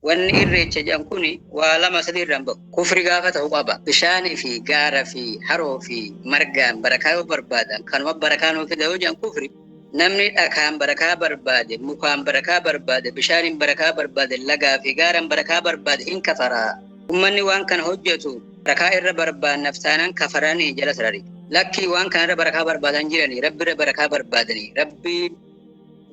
Wanni irreecha jedhan kun waa lama sadii irraa hin ba'u. Kufri gaafa ta'u qaba. Bishaanii fi gaara fi haroo fi margaan barakaa yoo barbaadan kanuma barakaa nuu fida yoo jedhan kufri. Namni dhakaan barakaa barbaade, mukaan barakaa barbaade, bishaaniin barakaa barbaade, lagaa fi gaaraan barakaa barbaade hin kafara. Ummanni waan kana hojjatu barakaa irra barbaannaf taanaan kafarani jala sarari. Lakkii waan kana irra barakaa barbaadan jirani rabbi irra barakaa barbaadani. Rabbiin.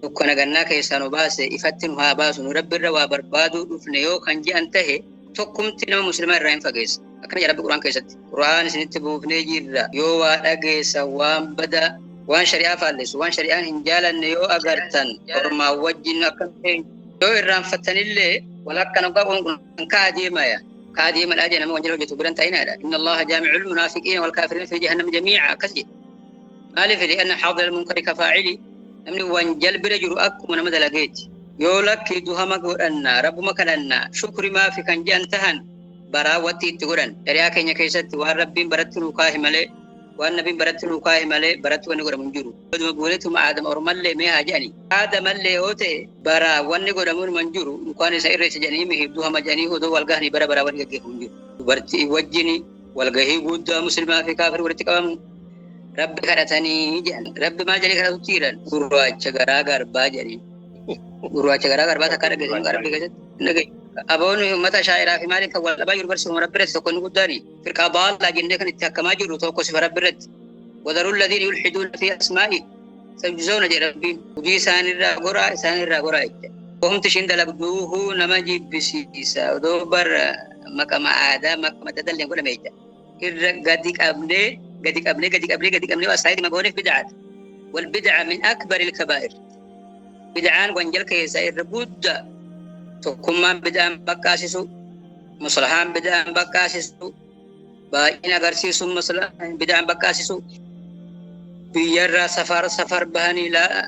dukkana gannaa keessaa nu baase ifatti nu haa baasu nu rabbi irra waa barbaaduu dhufne yoo kan je'an tahe tokkumti nama muslimaa irraa hin fageessa akkana jedha rabbi quraan keessatti quraan isinitti buufnee jirra yoo waa dhageessan waan badaa waan shari'aa faallessu waan shari'aan hin jaalanne yoo agartan ormaa wajjin akka yoo irraanfattanillee wal akka nu qabuun kun kaa deemaya kaa deemadhaa jee nama wanjala hojjetu biran ta'inaadha inna allaha jaami'ul munaafiqiina wal kaafiriina fi jahannam jamiica akkas jedhe maaliif li'anna haadha almunkari ka faacili namni waan jalbira jiru akkuma nama dalageeti yoo lakki duhama godhanna rabbuma kadhanna shukri maafi kan je'an tahan baraa watti itti godhan shari'aa keenya keessatti waan rabbiin baratti nuu kaahi malee waan nabiin baratti nuu kaahi malee baratti wanni godhamu hin jiru oduma guuneetuma aadama ormallee mee haa je'ani aadamallee yoo ta'e baraa wanni godhamu hin man jiru mukaan isa irreessa je'anii mihi duhama je'anii odoo wal gahanii bara baraa wanni gaggeeffamu hin jiru dubartii wajjini Walgahii guuddaa muslimaa fi kaafir walitti qabamu rabbi kadhatanii jedhan. Rabbi maal jedhee kadhatutti jedhan gurraacha garaa garbaa jedhanii. Gurraacha garaa garbaa takka dhageessan qarbii keessatti hin dhageessu. Aboon uummata shaa'iraa fi maaliif kan wal dhabaa jiru barsiifama rabbi irratti tokko inni guddaani. Firqaa baallaa jennee kan itti hakkamaa jirru tokko sifa rabbi irratti. Wadaruu ladhiin yulxiduun fi asmaa'i. Samsoona jedha rabbiin hojii isaan irraa goraa isaan irraa goraa jecha. Homti ishiin dalagduuhu nama jibbisiisa odoo bar maqama aadaa maqama dadalleen godhame jecha. Irra gadi qabnee gadi qabnee gadi qabnee gadi qabnee waa saayidima gooneef bid'aadha. Wal bid'a min akbar ilkabaa'ir. Bid'aan wanjal keessaa irra guddaa tokkummaan bid'aan baqqaasisu musalahaan bid'aan baqqaasisu baay'ina agarsiisu masala bidaan baqqaasisu biyyarraa safar safar bahanii laa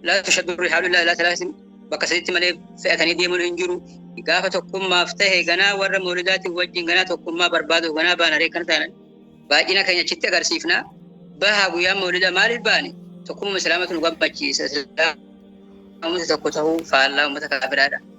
laa tushaddu rihaalu illaa ilaa talaasin bakka sadiitti malee fe'atanii deemuun hin jiru gaafa tokkummaaf ta'e ganaa warra moolidaatiin wajjin ganaa tokkummaa barbaadu ganaa baanaree kan ta'an baay'ina keenya achitti agarsiifna bahaa guyyaa moolida maaliif baane tokkummaa islaamatu nu gammachiisa islaamota tokko ta'uu faallaa uummata kaafiraadha.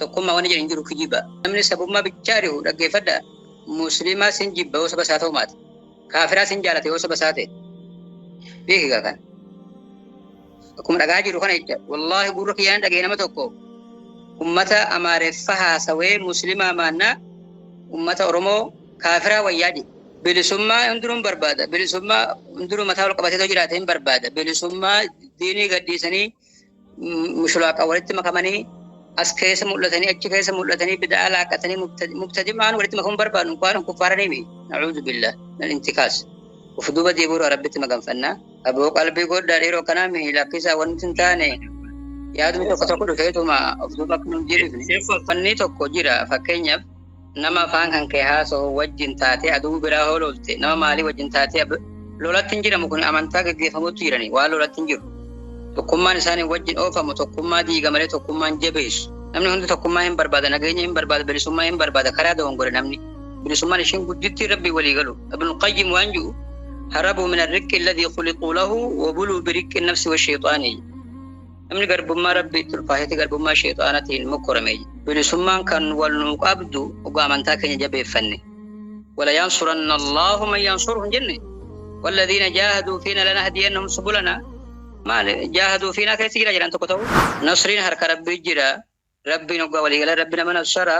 Tokkummaa wanni jedhu hin jiru kijiba. Namni sabummaa bichaa rihu dhaggeeffadha. Musliimaa sin jibba yoo saba isaa ta'u maate. Kaafiraa sin jaalata yoo saba isaa ta'e. Beeki gaa kana. Akkuma dhagaa jiru kana jecha. Wallaahi gurra kiyyaan dhaga'e nama tokko. Ummata Amaareffa haasawee Musliimaa maannaa ummata Oromoo kaafiraa wayyaa jedhe. Bilisummaa hundinuu hin barbaada. Bilisummaa hundinuu mataa ol qabatee yoo jiraate hin barbaada. Bilisummaa diinii gadhiisanii mushulaaqa walitti makamanii as keessa mul'atanii achi keessa mul'atanii bida'aa laaqatanii mubtadimaan walitti makamuun barbaadu waan kuffaara nimi na'uudu billa nan intikaas of duuba deebi'uura rabbitti maganfannaa aboo qalbii goddaa dhiiroo kanaa mihi lakkisaa wanti hin taane yaadni tokko tokko dhufeetuma of duuba akka nun jedhifne fannii tokko jira fakkeenyaaf Nama afaan kan kee haasahu wajjin taatee aduu biraa hoo lolte nama maalii wajjin taatee ab- lolatti hin jiramu kun amantaa gaggeeffamutti jirani waan lolatti hin jiru. Tokkummaan isaanii wajjin oofamu tokkummaa diiga malee tokkummaa hin jabeessu. Namni hundi tokkummaa hin barbaada, nageenya hin barbaada, bilisummaa hin barbaada, karaa dogongore namni. Bilisummaan ishiin guddittii rabbii walii galu. Ibnu Qayyim waan jiru harabuu min arriqqi alladhii khuliquu lahu wa buluu biriqqi nafsi wa shayxaanii. Namni garbummaa Rabbiitti ulfaatee garbummaa sheexaanatiin mokkorame bilisummaan kan wal nuu qabdu dhugaa amantaa keenya jabeeffanne. Wala yansuranna Allahu man yansuruhu hin jenne. Walladhiina jaahaduu fiina lanahdiyannahum subulana. Maal jaahaduu fiinaa keessa jira jedhan tokko ta'u. Nasriin harka Rabbii jira. Rabbiin oggaa walii galee Rabbi nama nasara.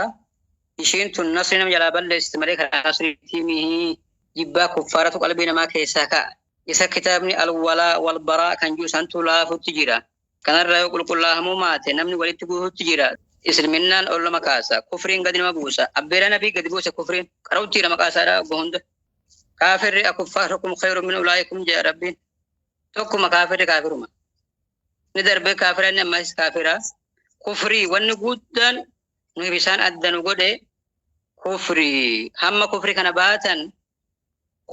Ishiin tun nasrii nama jalaa balleessi malee karaa nasriitii mihi. Jibbaa kuffaaratu qalbii namaa keessaa ka'a. Isa kitaabni Al-Walaa Wal-Baraa kan jiru santu laafutti jira. Kanarraa yoo qulqullaahamuu maate namni walitti guututti jira. Islminnaan ol nama kaasa. Kufriin gadi nama buusa. Abbeeraa Nabii gadi buuse kufriin. Qara'utti jira maqaa isaa dhaa obbo hunda. Kaafirri akuffaarukum khayrun min ulaa'ikum jedha Rabbiin. Tokkuma kaafirri kaafiruma. Ni darbee kaafira inni ammas kaafira. Kufrii wanni guddaan nuyi bisaan adda nu godhe kufrii. Hamma kufrii kana baatan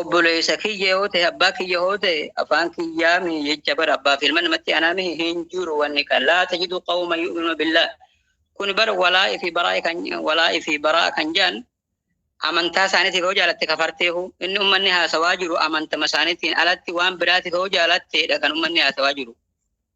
Obboleessa kiyya yoo ta'e abbaa kiyya yoo ta'e afaan kiyyaa mi jecha bara abbaa fi ilma namatti anaa mi hin jiru wanni kan laa tajidu qawma yu'minu billaa kun bara walaa fi baraa kan walaa fi baraa kan jaan amantaa isaaniitiif yoo jaalatte kafarteehu inni ummanni haasawaa jiru amantama isaaniitiin alatti waan biraatiif yoo jaalatteedha kan ummanni haasawaa jiru